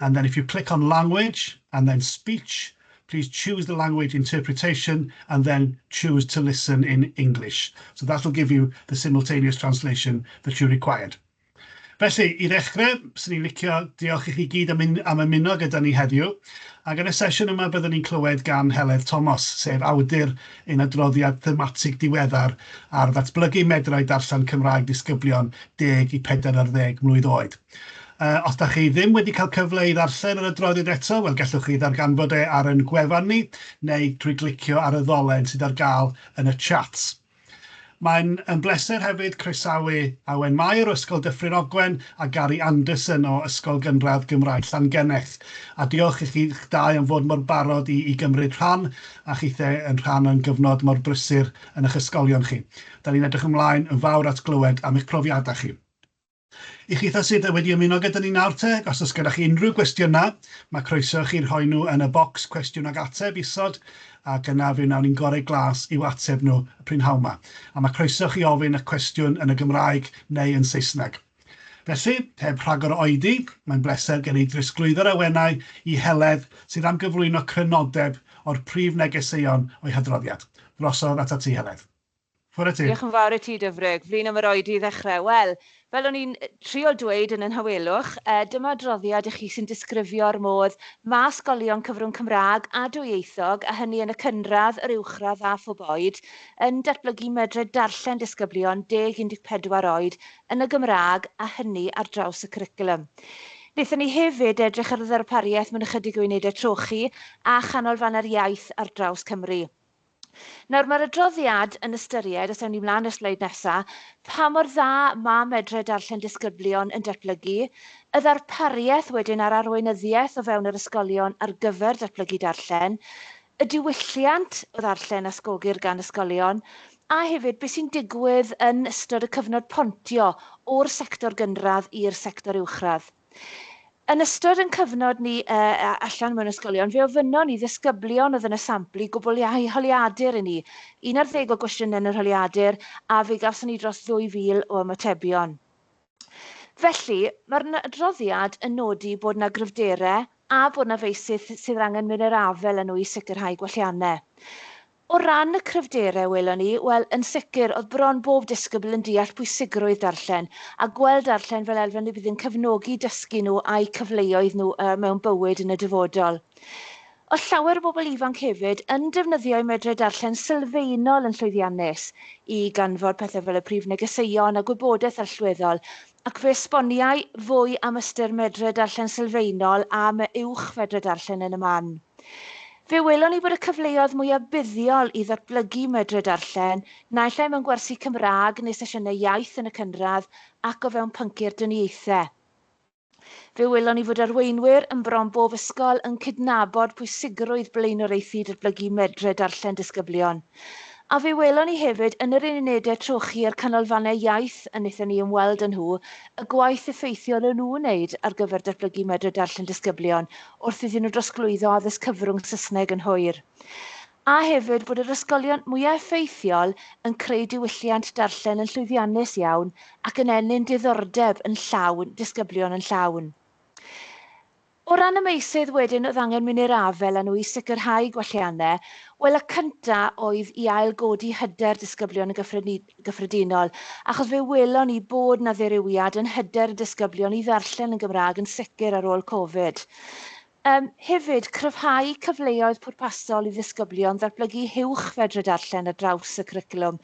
And then if you click on language and then speech, please choose the language interpretation and then choose to listen in English. So that will give you the simultaneous translation that you required. Felly, i ddechrau, swn i'n licio diolch i chi gyd am, un, am ymuno gyda ni heddiw. Ac yn y sesiwn yma, byddwn ni'n clywed gan Heledd Thomas, sef awdur yn adroddiad thematig diweddar ar ddatblygu medrau darllen Cymraeg disgyblion 10 i 40 mlwydd oed. Os dach chi ddim wedi cael cyfle i ddarllen yr adroddiad eto, wel gallwch chi ddarganfod e ar yn gwefan ni neu drwy glicio ar y ddolen sydd ar gael yn y chat. Mae'n yn bleser hefyd croesawu Awen Mair o Ysgol Dyffryn Ogwen a Gary Anderson o Ysgol Gynradd Gymraeg Llangenneth. A diolch i chi'ch dau am fod mor barod i i gymryd rhan a chithe yn rhan o'n gyfnod mor brysur yn y'ch ysgolion chi. Da ni'n edrych ymlaen yn fawr at glywed am eich profiadau chi. I chitha sydd yy wedi ymuno gyda ni nawr te, os oes gennych chi unrhyw gwestiyna, mae croeso i chi rhoi nhw yn y bocs cwestiwn ag ateb isod, ac yna fe wnawn ni'n gore glas i'w ateb nhw y prynhawn 'ma. A mae croeso i chi ofyn y cwestiwn yn y Gymraeg neu yn Saesneg. Felly, heb rhagor o oedi, mae'n bleser gen i drosglwyddo'r awenau i Heledd sydd am gyflwyno crynodeb o'r prif negeseuon o'i hadroddiad. Drosodd ata ti, Heledd. Chwarae teg. Diolch yn fawr i ti Dyfrig. Flin am yr oedi i ddechrau. Wel, fel o'n i'n trio dweud yn y nhawelwch, dyma adroddiad i chi sy'n disgrifio'r modd ma' ysgolion cyfrwng Cymraeg a dwyieithog, a hynny yn y cynradd, yr uwchradd a phob oed, yn datblygu medre darllen disgyblion deg i 14 oed yn y Gymraeg, a hynny ar draws y cwricwlwm. Wnaethon ni hefyd edrych ar y ddarpariaeth mewn ychydig o unedau trochi a chanolfannau'r iaith ar draws Cymru. Nawr, mae'r adroddiad yn ystyried, os ewn ni mlaen i'r sleid nesa, pa mor dda mae medre darllen disgyblion yn datblygu, y ddarpariaeth wedyn ar arweinyddiaeth o fewn yr ysgolion ar gyfer datblygu darllen, y diwylliant o ddarllen a sgogir gan ysgolion, a hefyd beth sy'n digwydd yn ystod y cyfnod pontio o'r sector gynradd i'r sector uwchradd. Yn ystod yn cyfnod ni yy yy allan mewn ysgolion, fe ofynnon ni ddisgyblion oedd yn y sampl i gwbl iau holiadur i ni. Un ar ddeg o gwestiynau yn yr holiadur, a fe gawson ni dros 2,000 o ymatebion. Felly, mae'r adroddiad yn nodi bod yna gryfderau a bod yna feysydd sydd angen mynd i'r afael â nhw i sicrhau gwelliannau. O ran y cryfderau welon ni, wel, yn sicr, oedd bron bob disgybl yn deall pwysigrwydd darllen, a gweld darllen fel elfen y bydd yn cefnogi dysgu nhw a'u cyfleoedd nhw mewn bywyd yn y dyfodol. Oedd llawer o bobl ifanc hefyd yn defnyddio'u medre darllen sylfaenol yn llwyddiannus i ganfod pethau fel y prif negeseuon a gwybodaeth allweddol, ac fe esboniai fwy am ystyr medre darllen sylfaenol a'm uwch fedre darllen yn y man. Fe welon ni bod y cyfleoedd mwyaf buddiol i ddatblygu Mydre Darllen, naill ai mewn gwersi Cymraeg neu sesiynau iaith yn y cynradd ac o fewn pynciau'r dynniaethau. Fe welon ni fod arweinwyr yn bron bob ysgol yn cydnabod pwysigrwydd blaenoriaethu datblygu Mydre Darllen disgyblion. A fe welon ni hefyd yn yr unedau trochi a'r canolfannau iaith a wnaethon ni ymweld â nhw y gwaith effeithiol o'n nhw'n wneud ar gyfer datblygu Mydre Darllen disgyblion wrth iddyn nhw drosglwyddo addysg cyfrwng Saesneg yn hwyr, a hefyd bod yr ysgolion mwyaf effeithiol yn creu diwylliant darllen yn llwyddiannus iawn ac yn ennyn diddordeb yn llawn disgyblion yn llawn. O ran y meysydd wedyn oedd angen mynd i'r afael â nhw i sicrhau gwelliannau, wel y cyntaf oedd i ail-godi hyder disgyblion yn gyffredinol, gyffredinol, achos fe welon ni bod 'na ddirywiad yn hyder y disgyblion i ddarllen yn Gymraeg yn sicr ar ôl Covid. Yym, hefyd, cryfhau cyfleoedd pwrpasol i ddisgyblion ddatblygu huwch fedre darllen ar draws y cwricwlwm.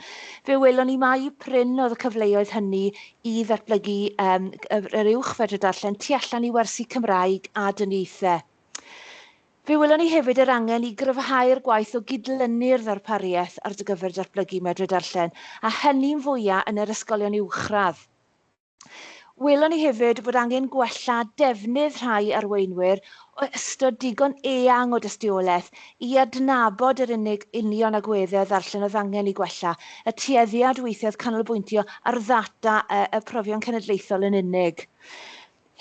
Fe welon ni mai prin oedd y cyfleoedd hynny i ddatblygu um, yr uwch fedre darllen tu allan i wersi Cymraeg a dyniaethau. Fe welon ni hefyd yr angen i gryfhau'r gwaith o gydlynu'r ddarpariaeth ar gyfer datblygu Medre Darllen, a hynny'n fwyaf yn yr ysgolion uwchradd. Welon ni hefyd fod angen gwella defnydd rhai arweinwyr o ystod digon eang o dystiolaeth i adnabod yr unig union agweddau ddarllen oedd angen eu gwella, y tueddiad weithiau oedd canolbwyntio ar ddata y Profion Cenedlaethol yn unig.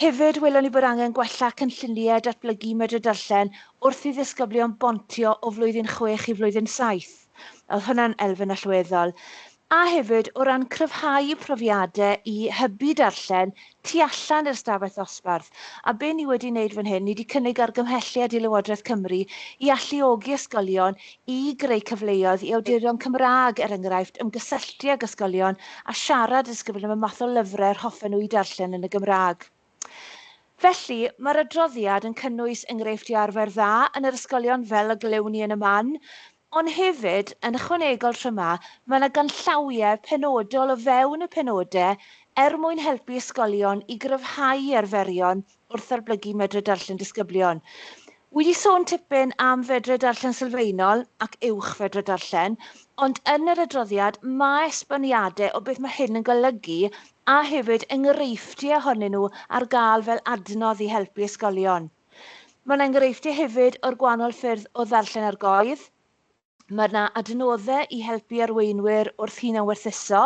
Hefyd, welon ni bod angen gwella cynlluniau datblygu Medr Darllen wrth i ddisgyblion bontio o flwyddyn chwech i flwyddyn saith. Oedd hwnna'n elfen allweddol. A hefyd, o ran cryfhau y profiadau i hybu darllen tu allan i'r stafell ddosbarth. A be ni wedi wneud fan hyn, ni wedi cynnig argymhelliad i Lywodraeth Cymru i alluogi ysgolion i greu cyfleoedd i awdurion Cymraeg, er enghraifft, ymgysylltu ag ysgolion a siarad a disgrifio am y math o lyfrau yr hoffen nhw eu darllen yn y Gymraeg. Felly, mae'r adroddiad yn cynnwys enghreifftiau arfer dda yn yr ysgolion fel y glywn ni yn y man, ond hefyd, yn ychwanegol tro 'ma, mae yna ganllawiau penodol o fewn y penodau er mwyn helpu ysgolion i gryfhau arferion wrth ddatblygu medre darllen disgyblion. Wi 'di sôn tipyn am fedre darllen sylfaenol ac uwch fedre darllen, ond yn yr adroddiad mae esboniadau o beth mae hyn yn golygu a hefyd enghreifftiau ohonyn nhw ar gael fel adnodd i helpu ysgolion. Mae'n enghreifftiau hefyd o'r gwahanol ffyrdd o ddarllen argoedd, Mae yna adnoddau i helpu arweinwyr wrth hunanwerthuso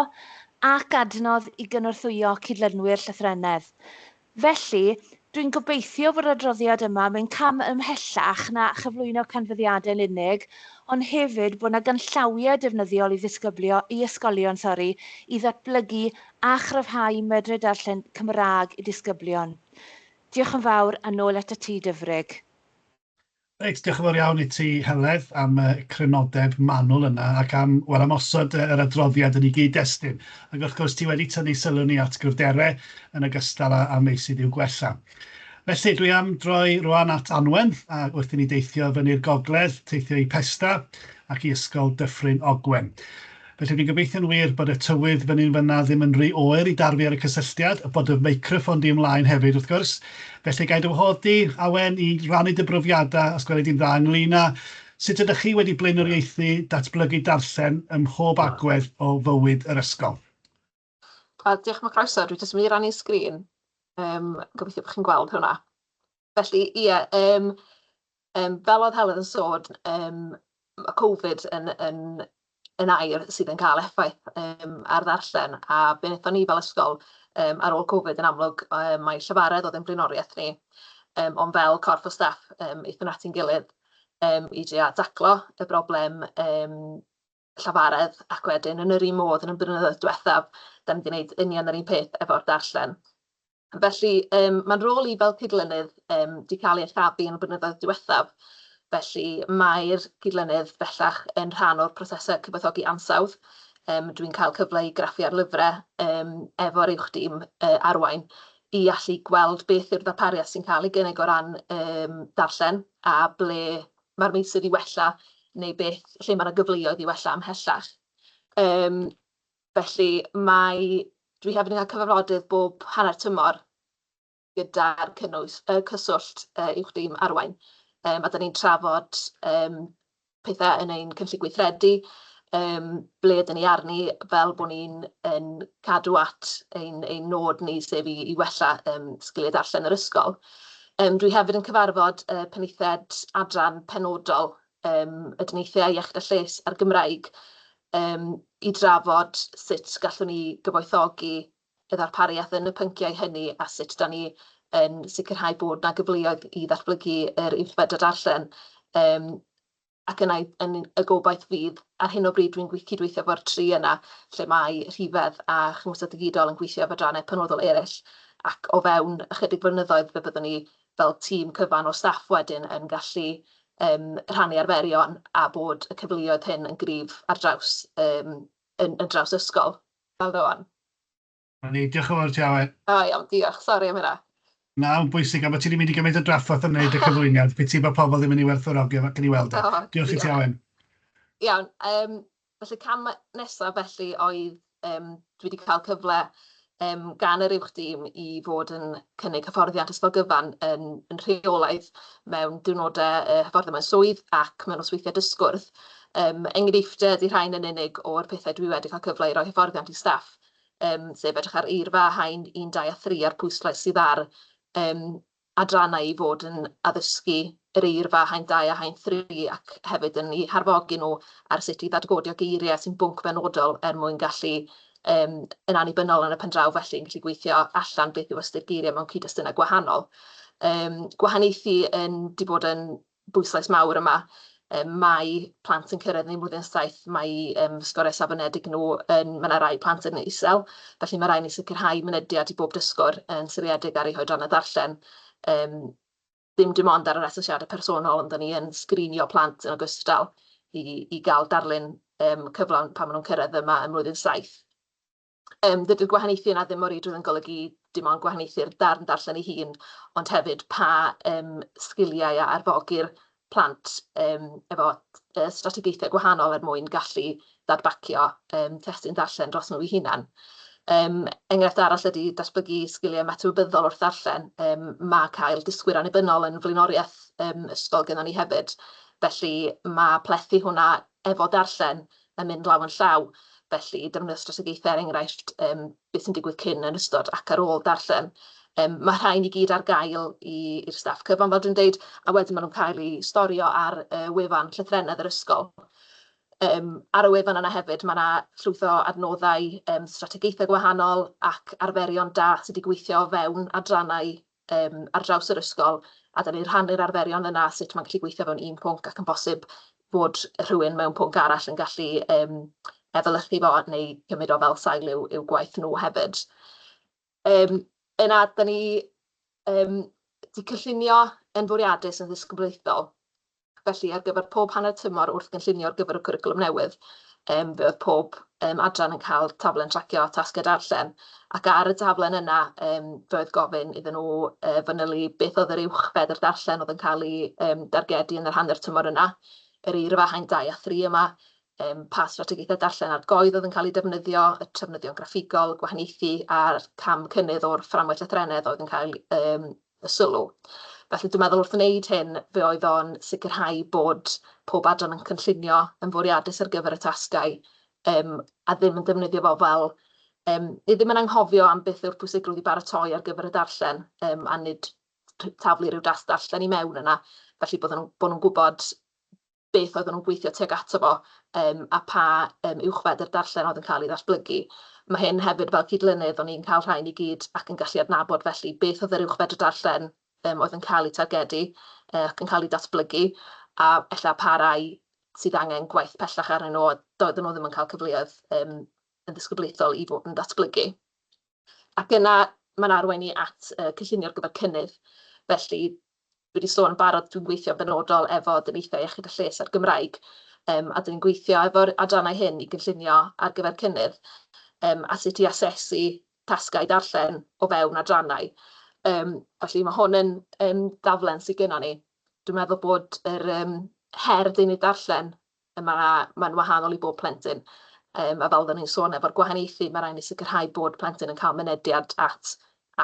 ac adnodd i gynorthwyo cydlynwyr llythrennedd. Felly, dwi'n gobeithio fod yr adroddiad yma yn mynd cam ymhellach na chyflwyno canfyddiadau'n unig, ond hefyd bod yna ganllawiau defnyddiol i ddisgyblio, i ysgolion, sori, i ddatblygu a chryfhau medre darllen Cymraeg i disgyblion. Diolch yn fawr, a nôl atat ti, Dyfrig. Reit, diolch yn fawr iawn i ti, Heledd, am y crynodeb manwl yna ac am, wel, am osod yr adroddiad yn ei gyd-destun. Ac wrth gwrs, ti wedi tynnu sylw ni at gwrderau yn ogystal â â meysydd i'w gwella. Felly, dwi am droi rwan at Anwen, a wrth i ni deithio fyny'r gogledd, teithio i Pesda ac i Ysgol Dyffryn Ogwen. Felly fi'n gobeithio'n wir bod y tywydd fyny'n fynna ddim yn ry oer i darfu ar y cysylltiad, a bod dy feicroffon di ymlaen hefyd wrth gwrs. Felly ga i dy wahodd di, Awen, i rannu dy brofiadau, os gweli di'n dda, ynglyn â sut ydych chi wedi blaenoriaethu datblygu darllen ym mhob agwedd o fywyd yr ysgol. A diolch am y croeso. Dwi jyst yn mynd i rannu sgrin. Um, gobeithio bod chi'n gweld hwnna. Felly, ie, yeah, um, um, fel oedd Helen yn sôn, um, mae Covid yn, yn, yn air sydd yn cael effaith um, ar ddarllen, a be wnaethon ni fel ysgol um, ar ôl Covid yn amlwg, um, mae llefaredd oedd yn blaenoriaeth ni, um, ond fel corff o staff, um, eithon ati'n gilydd um, i drio daclo y broblem um, llafaredd ac wedyn yn yr un modd yn y blynyddoedd diwethaf, da ni wedi gwneud union yr un peth efo'r darllen. Felly um, mae'n rôl i fel cydlynydd um, di cael ei chaddu yn y blynyddoedd diwethaf. Felly mae'r cydlynydd bellach yn rhan o'r prosesau cyfathogi ansawdd. Um, Dwi'n cael cyfle i graffu ar lyfrau um, efo'r uwch dîm uh, arwain i allu gweld beth yw'r ddarpariaeth sy'n cael ei gynnig o ran um, darllen a ble mae'r meysydd i wella neu beth lle mae yna gyfleoedd i wella ymhellach. Um, felly mae, dwi hefyd yn cael cyfarfodydd bob hanner tymor gyda'r cynnwys, uh, cyswllt uh, uwch dim arwain. Um, a da ni'n trafod um, pethau yn ein cynllun gweithredu, Yym, ble ydyn ni arni fel bod ni'n yn cadw at ein, ein nod ni, sef i, i wella um, sgiliau darllen yr ysgol. Um, dwi hefyd yn cyfarfod uh, penaethiaid adran penodol um, y dyniaethau iechyd a lles a'r Gymraeg um, i drafod sut gallwn ni gyfoethogi y ddarpariaeth yn y pynciau hynny a sut da ni yn sicrhau bod na gyfleoedd i ddatblygu yr uwchfedr darllen um, ac yna yn y gobaith fydd, ar hyn o bryd dwi'n cydweithio efo'r tri yna lle mae Rhifedd a Chymhwysedd Digidol yn gweithio efo adrannau penodol eraill ac o fewn ychydig flynyddoedd fe fyddwn ni fel tîm cyfan o staff wedyn yn gallu um, rhannu arferion a bod y cyfleoedd hyn yn gryf ar draws, um, yn, yn draws ysgol fel rwan. 'Na ni, diolch yn fawr i ti Aled. Da iawn, diolch, sori am hynna. Na, yn bwysig, am bod ti wedi mynd i gymaint o drafferth yn wneud y cyflwyniad, piti bod pobl ddim yn ei werthfawrogi o, gawn ni weld e. O, Diolch i ti Aled. Iawn, yym, felly cam nesaf felly oedd, yym, dwi wedi cael cyfle um, gan yr uwch dîm i fod yn cynnig hyfforddiant ysgol gyfan yn, yn rheolaidd mewn diwrnodau uh, hyfforddiant mewn swydd ac mewn osweithiau dysgwrdd. Um, enghreifftiau ydy rhain yn unig o'r pethau dwi wedi cael cyfle i roi hyfforddiant i staff yym, sef edrych ar eirfa haen un, dau a thri a'r pwyslais sydd ar yym, adrannau i fod yn addysgu yr eirfa haen dau a haen thri ac hefyd yn eu harfogi nhw ar sut i ddadgodio geiriau sy'n bwnc benodol er mwyn gallu um, yn annibynnol yn y pen draw felly yn gallu gweithio allan beth yw ystyr geiriau mewn cyd-destunau gwahanol. Um, gwahaniaethu yn di bod yn bwyslais mawr yma. Um, mae plant yn cyrraedd neu flwyddyn saith, mae um, sgoriau safonedig nhw yn, mae yna rai plant yn isel, felly mae rai ni sicrhau mynediad i bob dysgwr yn siriedig ar ei hoedran y darllen. Um, dim dim ond ar yr asesiadau personol, ond ni yn sgrinio plant yn ogystal i, i gael darlun um, cyflawn pan maen nhw'n cyrraedd yma ym mlwyddyn saith. Yym, dydy'r gwahaniaethu yna ddim o reidrwydd yn golygu dim ond gwahaniaethu'r darn darllen ei hun, ond hefyd pa um, sgiliau a arfogi'r plant um, efo uh, strategaethau gwahanol er mwyn gallu ddadbacio um, testyn darllen dros nhw i hunan. Um, enghraifft arall ydy datblygu sgiliau metewybyddol wrth ddarllen. Um, mae cael dysgwyr annibynnol yn flaenoriaeth um, ysgol gyda ni hefyd. Felly mae plethu hwnna efo darllen yn mynd law yn llaw, felly defnyddio strategaethau er enghraifft yym beth sy'n digwydd cyn, yn ystod ac ar ôl darllen. Yym mae rhain i gyd ar gael i i'r staff cyfan fel dwi'n deud a wedyn maen nhw'n cael eu storio ar y wefan llythrennedd yr ysgol. Yym ar y wefan yna hefyd mae yna llwyth o adnoddau yym strategaethau gwahanol ac arferion da sydd wedi gweithio o fewn adrannau yym ar draws yr ysgol a 'dan ni'n rhannu'r arferion yna a sut mae'n gallu gweithio fewn un pwnc ac yn bosib fod rhywun mewn pwnc arall yn gallu um, efelychu fo neu cymryd o fel sail i'w, i'w gwaith nhw hefyd. Um, yna, da ni um, di cyllunio yn fwriadus yn ddisgyblaethol Felly, ar gyfer pob hanner tymor wrth gynllunio ar gyfer y cwricwlwm newydd, fe oedd pob adran yn cael taflen tracio tasgau darllen, ac ar y taflen yna fe oedd gofyn iddyn nhw fanylu beth oedd yr uwch fedr darllen oedd yn cael ei dargedu yn yr hanner tymor yna, yr eirfa haen 2 a 3 yma, pa strategaethau darllen argoedd oedd yn cael eu defnyddio, y trafnidion graffigol, gwahaniaethu a'r cam cynnydd o'r fframwaith lythrennedd oedd yn cael y sylw. Felly dwi'n meddwl wrth wneud hyn, fe oedd o'n sicrhau bod pob adran yn cynllunio yn fwriadus ar gyfer y tasgau um, a ddim yn defnyddio fo fel um, ni ddim yn anghofio am beth yw'r pwysigrwydd i baratoi ar gyfer y darllen um, a nid taflu rhyw das darllen i mewn yna, felly bod nhw'n bod nhw gwybod beth oedden nhw'n gweithio tuag ato fo um, a pa um, uwchfedr darllen oedd yn cael ei ddatblygu. Mae hyn hefyd fel cydlynydd o'n i'n cael rhain i gyd ac yn gallu adnabod felly beth oedd yr uwchfedr darllen um, oedd yn cael ei targedu uh, ac yn cael ei datblygu a efallai pa rai sydd angen gwaith pellach arnyn nhw a doedden nhw ddim yn cael cyfleoedd um, yn ddisgyblaethol i fod yn datblygu. Ac yna mae'n arwain ni at y cynllunio ar gyfer cynnydd. Felly, dwi 'di sôn yn barod, dwi'n gweithio'n benodol efo Dyniaethau Iechyd a Lles a'r Gymraeg, yym a 'dyn ni'n gweithio efo'r adrannau hyn i gynllunio ar gyfer cynnydd, yym a sut i asesu tasgau darllen o fewn adrannau. Yym felly mae hwn yn yn daflen sy gynnon ni. Dwi'n meddwl bod yr yym her deunydd darllen Mae 'na... mae'n wahanol i bob plentyn, yym, a fel oedden ni'n sôn, efo'r gwahaniaethu, mae rhaid ni sicrhau bod plentyn yn cael mynediad at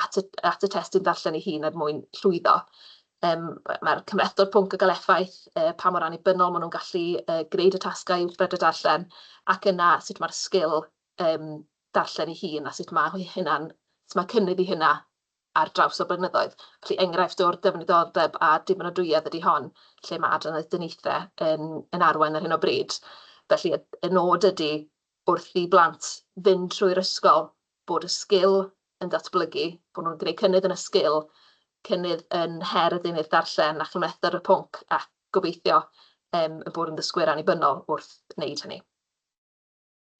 at y at y testun ddarllen ei hun er mwyn llwyddo. Yym, mae'r cymhlethdod pwnc yn cael effaith, yy, pa mor annibynnol maen nhw'n gallu yy gwneud y tasgau uwchben y darllen, ac yna sut mae'r sgil yym darllen ei hun a sut mae hynna'n... sut mae cynnydd i hynna ar draws y blynyddoedd. Felly enghraifft o'r dyfnidoldeb a dibynadwyedd ydy hon, lle mae adran aeth dyniaethe yn yn arwain ar hyn o bryd. Felly y y nod ydy wrth i blant fynd trwy'r ysgol bod y sgil yn datblygu, bod nhw'n gwneud cynnydd yn y sgil, cynnydd yn her y deunydd darllen a chymhlethdr y pwnc ac gobeithio yym ein bod yn ddysgwyr annibynnol wrth wneud hynny.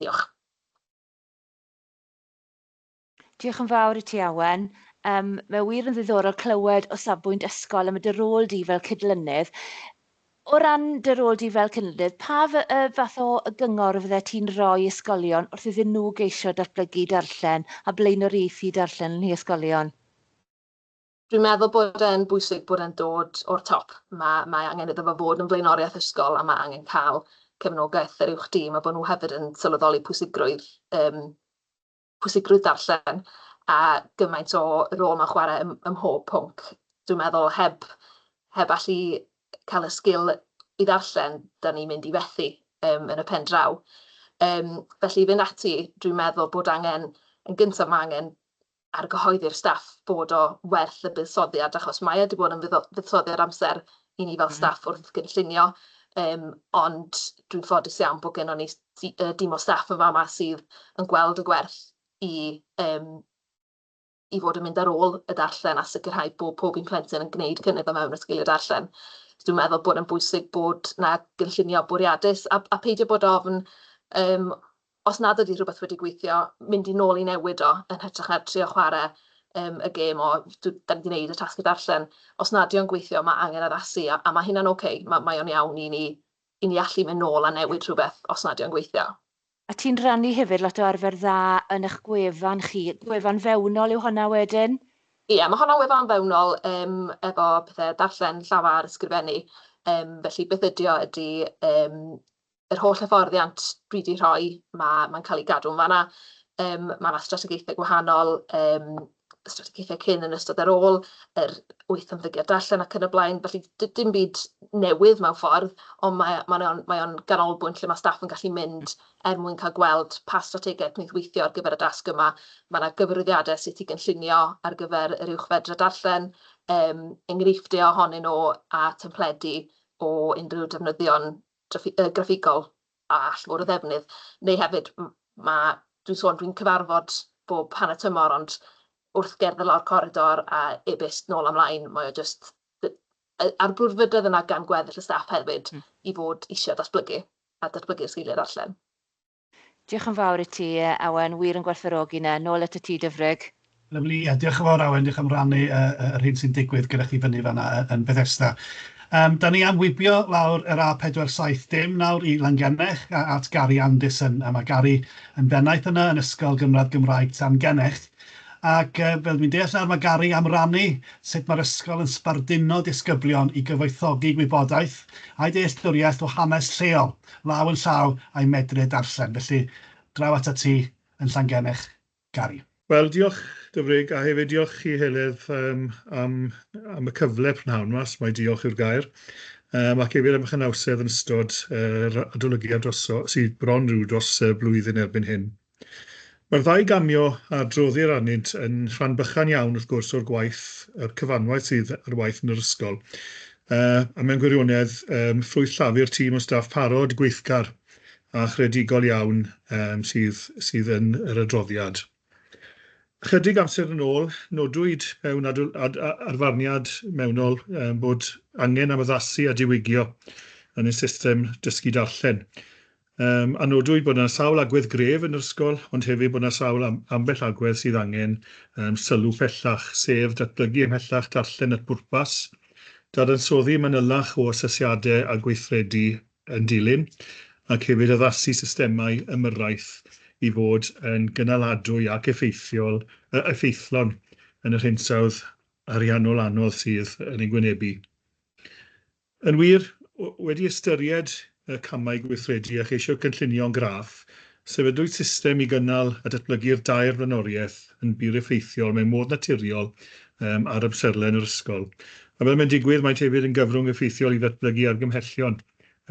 Diolch. Diolch yn fawr i ti, Awen. Yym, mae wir yn ddiddorol clywed o safbwynt ysgol am y dy rôl di fel cydlynydd. O ran dy rôl di fel cydlynydd, pa fath o gyngor fydde ti'n rhoi i ysgolion wrth iddyn nhw geisio datblygu darllen a blaenoriaethu darllen yn nhŷ ysgolion? Dwi'n meddwl bod e'n bwysig bod e'n dod o'r top. Mae, mae angen iddo fo fod yn flaenoriaeth ysgol a mae angen cael cefnogaeth yr uwch dîm a bod nhw hefyd yn sylweddoli pwysigrwydd um, pwysigrwydd darllen a gymaint o rôl mae'n chwarae ym, ym mhob pwnc. Dwi'n meddwl heb, heb allu cael y sgil i ddarllen, da ni'n mynd i fethu um, yn y pen draw. Um, felly i fynd ati, dwi'n meddwl bod angen, yn gyntaf mae angen ar gyhoeddi'r staff bod o werth y buddsoddiad, achos mae wedi bod yn fuddsoddiad amser i ni fel mm. staff wrth gynllunio, um, ond dwi'n ffodus iawn bod gennym ni dim o staff yn fama sydd yn gweld y gwerth i yym i fod yn mynd ar ôl y darllen a sicrhau bod pob un plentyn yn gwneud cynnydd o mewn y sgiliau darllen. So dwi'n meddwl bod yn bwysig bod na gynllunio bwriadus a, a peidio bod ofn um, os nad ydy rhywbeth wedi gweithio, mynd i nôl i newid o yn hytrach na trio chwarae um, y gêm o da ni wedi gwneud y tasg y darllen. Os nad yw'n gweithio, mae angen addasu a, a mae hynna'n oce, okay. mae, mae o'n iawn i ni i ni allu mynd nôl a newid rhywbeth os nad yw'n gweithio. A ti'n rhannu hefyd lot o arfer dda yn eich gwefan chi, gwefan fewnol yw honna wedyn? Ie, mae honna'n wefan fewnol yym efo pethe darllen, llafar, ysgrifennu, yym felly beth ydy o ydy yym yr holl hyfforddiant dwi 'di rhoi, ma' ma'n cael ei gadw'n fan'na. Yym ma' 'na strategaethau gwahanol, yym strategaethau cyn, yn ystod, ar ôl yr wyth ymddygiad darllen ac yn y blaen. Felly, dim byd newydd mewn ffordd, ond mae, mae, o'n, mae o'n ganolbwynt lle mae staff yn gallu mynd er mwyn cael gweld pa strategaeth wneud weithio ar gyfer y dasg yma. Mae yna gyfrifiadau sut i gynllunio ar gyfer yr uwch fedra darllen, um, enghreifftiau ohonyn nhw a templedi o unrhyw defnyddion graffigol a all fod o ddefnydd, neu hefyd ma' dwi'n sôn dwi'n cyfarfod bob hanner tymor ond wrth gerdded lawr coridor a e-byst nôl a mlaen mae o jyst d- yy a'r brwdfrydedd yna gan gweddill y staff hefyd mm. i fod eisiau datblygu a datblygu'r sgiliau darllen. Diolch yn fawr i ti Awen, wir yn gwerthfawrogi 'na. Nôl at y tŷ dyfrig. Lyfli, ie, diolch yn fawr Awen, diolch am rannu yr hyn sy'n digwydd gyda chi fyny fan'na yn Bethesda. Yym, da ni am wibio lawr yr A470 nawr i Langennech a at Gary Anderson, a mae Gary yn bennaeth yna yn Ysgol Gynradd Gymraeg Llangennech, ac yy fel dwi'n deall nawr mae Gary am rannu sut mae'r ysgol yn sbarduno disgyblion i gyfoethogi gwybodaeth a'u dealltwriaeth o hanes lleol, law yn llaw a'u medru e darllen, felly draw atat ti yn Llangennech. Gary. Wel, diolch, Dyfrig, a hefyd diolch chi, Heledd, yym, am, am y cyfle prynhawn yma, os mai diolch yw'r gair, um, ac hefyd am eich anawsedd yn ystod yr uh, adolygiad dros, sydd bron rhyw dros uh, blwyddyn erbyn hyn. Mae'r ddau gamio a droddir arnynt yn rhan bychan iawn, wrth gwrs, o'r gwaith, yr cyfanwaith sydd ar waith yn yr ysgol. Uh, a mewn gwirionedd, um, ffrwyth llafur tîm o staff parod, gweithgar, a chreadigol iawn yym sydd sydd yn yr adroddiad. Ychydig amser yn ôl, nodwyd mewn ad, ad, arfarniad mewnol um, bod angen am addasu a diwygio yn y system dysgu darllen. Um, a nodwyd bod yna sawl agwedd gref yn yr ysgol, ond hefyd bod yna sawl am, ambell agwedd sydd angen um, sylw pellach, sef datblygu ymhellach darllen at bwrpas, dadansoddi manylach o asesiadau a gweithredu yn dilyn, ac hefyd addasu systemau ymyrraeth i fod yn gynaladwy ac effeithiol, effeithlon yn yr hinsawdd ariannol anodd sydd yn ein gwynebu. Yn wir, wedi ystyried y camau gweithredu a cheisio cynllunio'n graff, Sefydlwyd system i gynnal a datblygu'r dair flaenoriaeth yn bur effeithiol mewn modd naturiol ar amserlen yr ysgol, a fel mae'n digwydd, maent hefyd yn gyfrwng effeithiol i ddatblygu argymhellion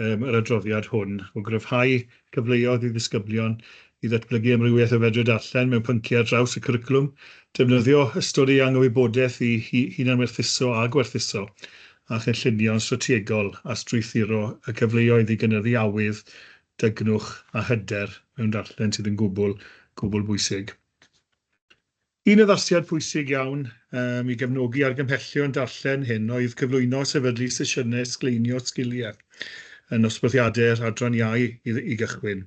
yr adroddiad hwn o gryfhau cyfleoedd i ddisgyblion i ddatblygu amrywiaeth o fedre darllen mewn pynciau ar draws y cwricwlwm, defnyddio ystod eang o wybodaeth i hunanwerthuso a gwerthuso, a chynllunio'n strategol a strwythuro y cyfleoedd i gynyddu awydd dygnwch a hyder mewn darllen sydd yn gwbl, gwbl bwysig. Un addasiad pwysig iawn um, i gefnogi argymhellion darllen hyn oedd cyflwyno a sefydlu sesiynau sgleinio sgiliau yn nosbwthiadau'r adran iau i, i gychwyn.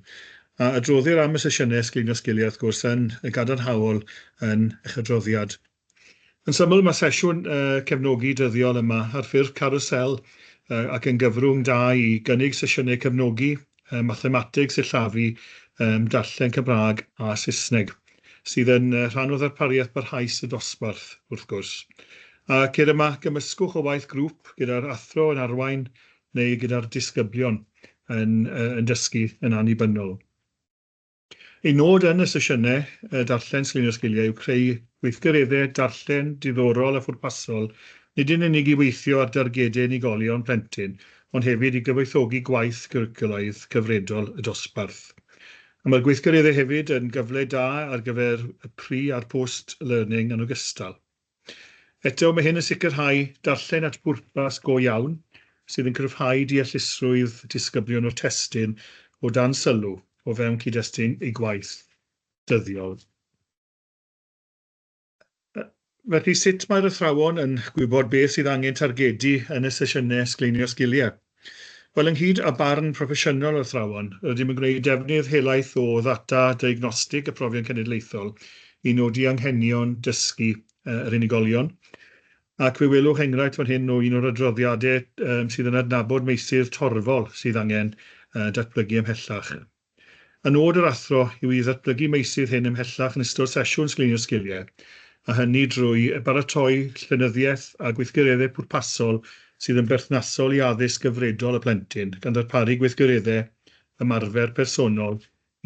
A adroddir am y sesiynau sgleinio sgiliau wrth gwrs yn y gadarnhaol yn eich adroddiad. Yn syml, mae sesiwn cefnogi dyddiol yma ar ffurf carwsel ac yn gyfrwng da i gynnig sesiynau cefnogi mathemateg, sillafu, darllen Cymraeg a Saesneg, sydd yn rhan o ddarpariaeth barhaus y dosbarth, wrth gwrs. A ceir yma gymysgwch o waith grŵp gyda'r athro yn arwain neu gyda'r disgyblion yn dysgu yn annibynnol. Ein nod yn y sesiynau darllen Sgrinio Sgiliau yw creu gweithgareddau darllen diddorol a phwrpasol, nid yn unig i weithio ar dargedau unigolion plentyn, ond hefyd i gyfoethogi gwaith gyricwlaidd cyfredol y dosbarth. A mae'r gweithgareddau hefyd yn gyfle da ar gyfer y pri a'r post learning yn ogystal. Eto, mae hyn yn sicrhau darllen at bwrpas go iawn, sydd yn cryfhau deallusrwydd disgyblion o'r testun o dan sylw o fewn cyd-destun eu gwaith dyddiol. Felly, sut mae'r athrawon yn gwybod beth sydd angen targedu yn y sesiynau sgleinio sgiliau? Wel, ynghyd â barn proffesiynol yr athrawon, rydym yn gwneud defnydd helaeth o ddata diagnostig y Profion Cenedlaethol i nodi anghenion dysgu yr unigolion, ac fe welwch enghraifft fan hyn o un o'r adroddiadau sydd yn adnabod meysydd torfol sydd angen datblygu ymhellach. Y nod yr athro yw i ddatblygu meysydd hyn ymhellach yn ystod sesiwn sgrinio sgiliau, a hynny drwy baratoi llenyddiaeth a gweithgareddau pwrpasol sydd yn berthnasol i addysg gyfredol y plentyn, gan ddarparu gweithgareddau ymarfer personol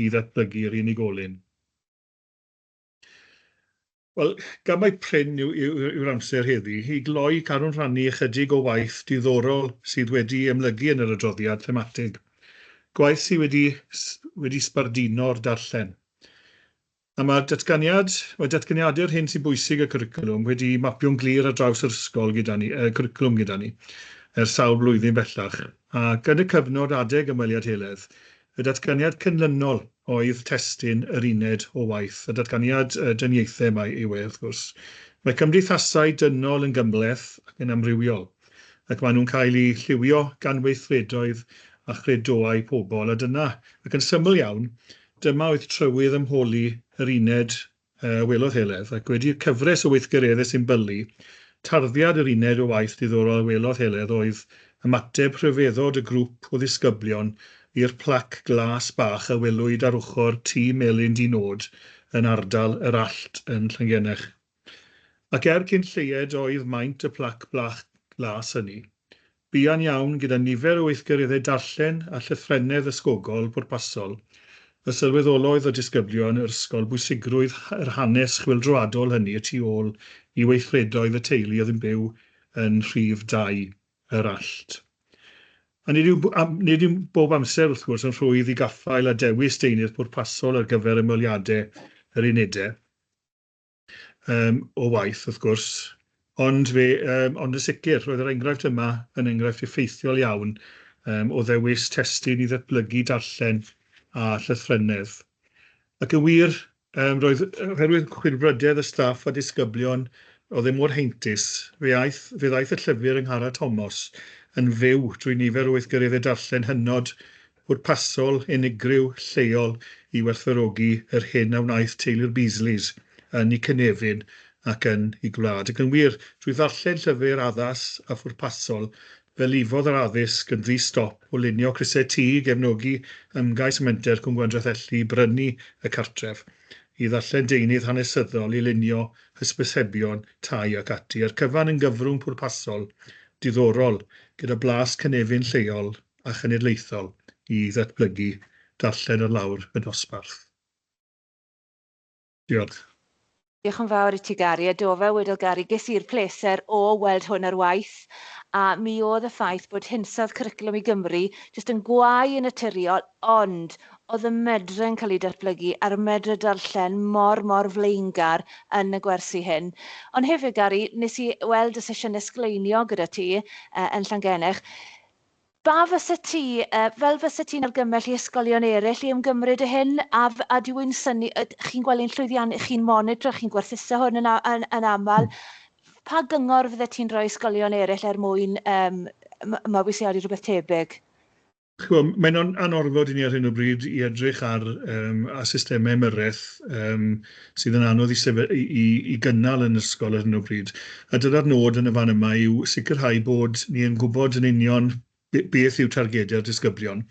i ddatblygu'r unigolyn. Wel, gan mai prin yw, yw, yw'r amser heddi, i gloi, carwn rhannu ychydig o waith diddorol sydd wedi ymlygu yn yr adroddiad thematig, gwaith sydd wedi, wedi sbarduno'r darllen. A mae'r datganiad, mae datganiadau'r hyn sy'n bwysig y cwricwlwm wedi mapio'n glir ar draws yr ysgol gyda ni, y cwricwlwm gyda ni, ers sawl blwyddyn bellach, ac yn y cyfnod adeg ymweliad Heledd, Y datganiad cynlynol oedd testun yr uned o waith. Y datganiad dyniaethau mae yw e, wrth gwrs. Mae cymdeithasau dynol yn gymhleth ac yn amrywiol, ac maen nhw'n cael eu lliwio gan weithredoedd a chredoau pobl, a dyna, ac yn syml iawn, dyma oedd trywydd ymholi yr uned a welodd Heledd, ac wedi'r cyfres o weithgareddau sy'n bylu, tarddiad yr uned o waith diddorol a welodd Heledd oedd ymateb rhyfeddod y grŵp o ddisgyblion i'r plac glas bach a welwyd ar ochr Tŷ Melin Dŷ Nod yn ardal Yr Allt yn Llangennech. Ac er cyn lleied oedd maint y plac bach glas hynny. Buan iawn, gyda nifer o weithgareddau darllen a llythrennedd ysgogol pwrpasol, y sylweddolodd y disgyblion yr ysgol bwysigrwydd yr hanes chwyldroadol hynny y tu ôl i weithredoedd y teulu oedd yn byw yn rhif dau yr allt. A nid yw, nid yw bob amser, wrth gwrs, yn rhwydd i gaffael a dewis deunydd pwrpasol ar gyfer ymweliadau yr unedau. Yym, o waith, wrth gwrs. Ond fe, yym, ond yn sicr, roedd yr enghraifft yma yn enghraifft effeithiol iawn um, o ddewis testun i ddatblygu darllen a llythrennedd. Ac yn wir, um, roedd oherwydd chwilfrydedd y staff a disgyblion oedd e mor heintus, fe aeth, fe ddaeth y llyfr yng Nghara Tomos yn fyw drwy nifer o weithgareddau darllen hynod Pwrpasol unigryw lleol i werthfawrogi yr hyn a wnaeth teulu'r Beasleys yn y cynefin ac yn y gwlad. Ac yn wir, drwy ddarllen llyfr addas a phwrpasol, fe lifodd yr addysg yn ddi-stop o lunio crysau tŷ, gefnogi ymgais Menter Cwm Gwendraeth-elli i brynu y cartref, i ddarllen deunydd hanesyddol, i lunio hysbysebion tai ac ati, a'r cyfan yn gyfrwng pwrpasol, diddorol, gyda blas cynefin lleol, a chenedlaethol i ddatblygu darllen ar lawr y dosbarth. Diolch. Diolch yn fawr i ti Gary, a do fel wedodd Gary ges i'r pleser o weld hwn ar waith a mi oedd y ffaith bod hinsawdd Cwricwlwm i Gymru jyst yn gwau yn naturiol ond oedd y medre yn cael ei datblygu ar y medre darllen mor mor flaengar yn y gwersi hyn. Ond hefyd Gary nes i weld y sesiynau sgleiniog gyda ti yn Llangennech Ba fysa ti, fel fysa ti'n argymell i ysgolion eraill i ymgymryd â hyn, a a dwi yn synnu, chi'n gweld ein llwyddiannau, chi'n monitro, chi'n gwerthuso hwn yn, yn, yn aml, pa gyngor fydde ti'n rhoi ysgolion eraill er mwyn um, mabwysiadu rhywbeth tebyg? Chwa, mae'n anorfod i ni ar hyn o bryd i edrych ar um, a systemau ymyrraeth um, sydd yn anodd i sef- i, i, i gynnal yn yr ysgol ar hyn o bryd. A dyna'r nod yn y fan yma yw sicrhau bod ni yn gwybod yn union be- beth yw targedau'r disgyblion.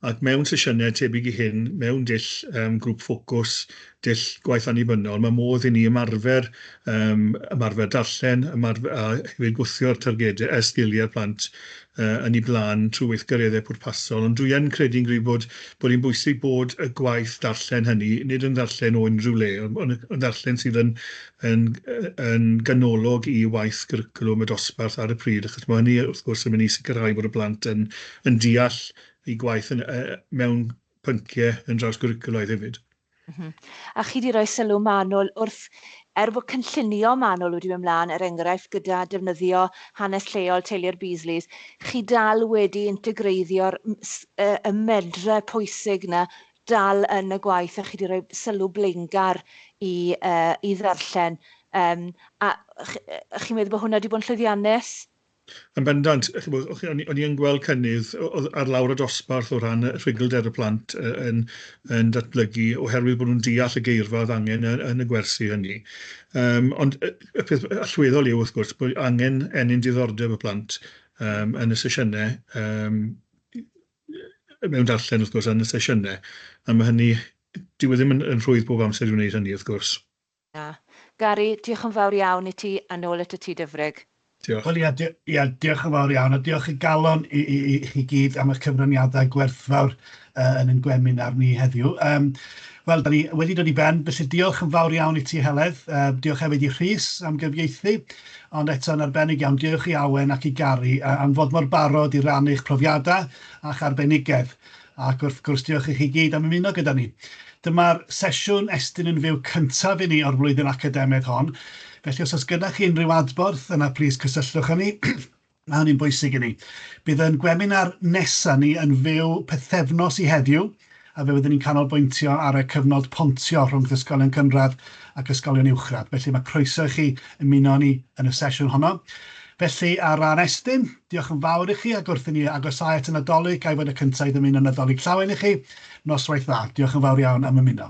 Ac mewn sesiynau tebyg i hyn, mewn dull um, grŵp ffocws, dull gwaith annibynnol, mae modd i ni ymarfer, um, ymarfer darllen, ymarfer, a hefyd gwthio'r targedau, y sgiliau'r plant yn ei blaen trwy weithgareddau pwrpasol, ond dwi yn credu'n gryf bod bod hi'n bwysig bod y gwaith darllen hynny, nid yn ddarllen o unrhyw le, ond ond yn ddarllen sydd yn yn yn ganolog i waith cwricwlwm y dosbarth ar y pryd, achos mae hynny wrth gwrs yn mynd i sicrhau bod y plant yn yn deall eu gwaith yn yy mewn pynciau yn drawsgwricwlaidd hefyd. Mhm. A chi wedi rhoi sylw manwl wrth, er bod cynllunio manwl wedi mynd mlaen, er enghraifft gyda defnyddio hanes lleol teulu'r Beasleys, chi dal wedi integreiddio'r y medre pwysig yna dal yn y gwaith a chi wedi rhoi sylw blaengar i, uh, i ddarllen. Um, a chi, chi'n meddwl bod hwnna wedi bod yn llwyddiannus? Yn bendant, ch'mod, o- o'n i o'n i yn gweld cynnydd o- o- ar lawr y dosbarth o ran y rhugl-der y plant yy yn yn datblygu oherwydd bod nhw'n deall y geirfa oedd angen yn yn y gwersi hynny. Yym ond y y peth allweddol yw wrth gwrs bod angen ennyn diddordeb y plant yym yn y sesiyne yym yy mewn darllen wrth gwrs yn y sesiyne a ma' hynny dyw e ddim yn yn rhwydd bob amser i wneud hynny wrth gwrs. Na. Gary, diolch yn fawr iawn i ti, a nôl atat ti Dyfrig. Diolch. Wel ia, ia, diolch yn fawr iawn, a diolch o galon i i i chi gyd am eich cyfraniadau gwerthfawr yy yn ein gweminar ni heddiw. Yym, wel, 'dan ni wedi dod i ben, felly diolch yn fawr iawn i ti, Heledd. Yy, diolch hefyd i Rhys am gyfieithu, ond eto, yn arbennig iawn, diolch i Awen ac i Gary a- am fod mor barod i rannu eich profiadau a'ch arbenigedd. Ac wrth gwrs, diolch i chi gyd am ymuno gyda ni. Dyma'r sesiwn Estyn yn Fyw cyntaf i ni o'r flwyddyn academaidd hon, felly os oes gennych chi unrhyw adborth, yna plis cysylltwch â ni, mae hynny'n bwysig i ni. Bydd ein gweminar nesaf ni yn fyw pythefnos i heddiw, a fe fyddwn ni'n canolbwyntio ar y cyfnod pontio rhwngth ysgolion cynradd ac ysgolion uwchradd, felly mae croeso i chi ymuno â ni yn y sesiwn honno. Felly, ar ran Estyn, Diolch yn fawr i chi ac wrth i ni agosáu at y Nadolig, ga i fod y cynta' i ddymuno Nadolig Llawen i chi. Noswaith dda. Diolch yn fawr iawn am ymuno.